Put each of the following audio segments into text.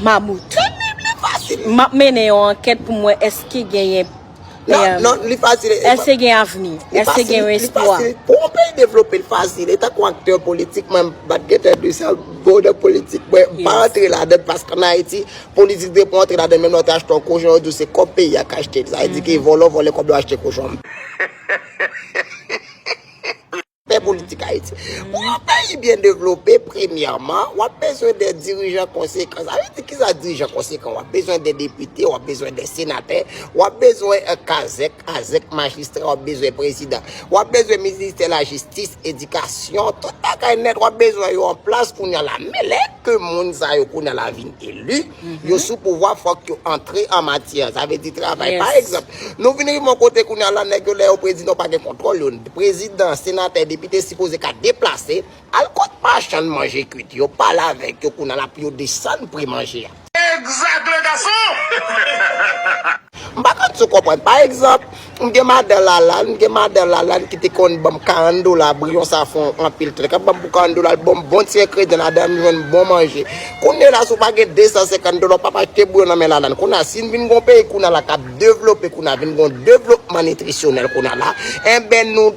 Mamout. Tanpri li fasil. Map mennen yon ankèt pou m wè eske genyen Non, non, li fasil e. Eske gen avni? Eske gen yon espwa? Li fasil, li fasil. Pou yon peyi devlope, li fasil. E tankou aktè politik, mwen pa t gen tè de sa, bon nan politik. Mwen pa antre ladann paske an Ayiti, politik depi w antre ladann menm lè w te achte yon kochon, yo di w se kòb peyi a k achte l. Sa vle di ke vòlò vòlè kòb la achte kochon an. Fè politik Ayiti. Pou yon peyi byen devlope, premyèman, w ap bezwen de dirijan konsekan. Sa vle di ki sa dirijan konsekan? W ap bezwen de depite, w ap bezwen de senatè, w ap bezwen kazèk, azèk, majistra, w ap bezwen prezidan. W ap bezwen ministè lajistis, edikasyon, tout bagay nèt w ap bezwen yo an plas kounye a la. Men lè ke moun sa yo kounye a la vin eli, Yo sou pouvwa fòk yo antre an matyè. Sa vle di travay. Pa egzanp, nou vin rive yon kote kounye a la, nèg yo lè yo predi nou pa gen kontwòl yo. Prezidan, senatè, depite sipoze ka deplase al kot machann manje kwit yo, pale avèk yo kounye a la pou yo desann pri manje a. Exact le garçon! M pa konn si w konprann. Pa egzanp, m gen madan Lalann, m gen madan Lalann ki te konn ban m 40 dola pou yon safran anpil tan. Li ka ban m pou 40 dola, li ban m bon ti engredyan ladan, m jwenn bon manje. Kounye la, si w pa gen 250 dola, w pap achte bouyon nan men Lalann. Kounye la, si n vin gen yon peyi kounye la k ap devlope kounye la, vin gen yon devlopman nitrisyonèl kounye la, enben nou.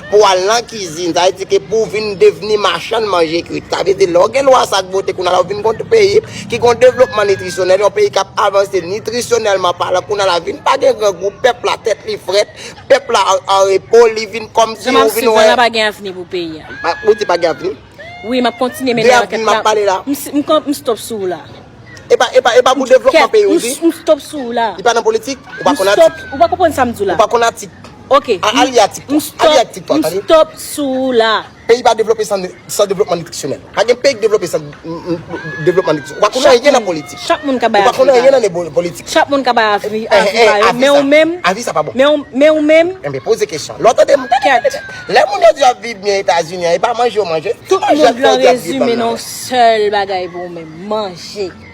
Pou al nan kizin, sa vle di ke pou vin devni machann manje kwit. Sa vle di lè w gen lwa sa ak bote kounye a la ou vin gon peyi ki gon devlopman nitrisyonèl, yon peyi k ap avanse nitrisyonèlman palan. Kounye a la vin pa gen grangou, pèp la tèt li frèt, pèp la an repo, li vin kòmsi ou vin wè. Jan m ap swiv la, la pa gen avni pou peyi a. Ou di pa gen avni? Wi, m ap kontinye mennen ankèt la. De avni m ap pale la. M stop sou ou la. E pa pou devlopman peyi ou di? M stop sou ou la. Li pa nan politik? Ou pa konn atik? M stop, ou pa konprann sa m di w la. Ou pa konn atik? Ok m stop sou ou la. Peyi pa devlope san devlopman nitrisyonèl. Pa gen peyi ki devlope san devlopman nitrisyonèl. Ou pa konnen anyen nan politik. Chak moun ka bay avi pa yo. Chak moun ka bay avi pa yo. Men ou menm. Avi sa pa bon. Men ou menm. Enben poze kesyon. Lè w tande m. Lè moun yo di yo ap viv byen Etazini an, e pa manje yo manje. Tout moun vle an rezime nan yon sèl bagay pou ou menm. Manje.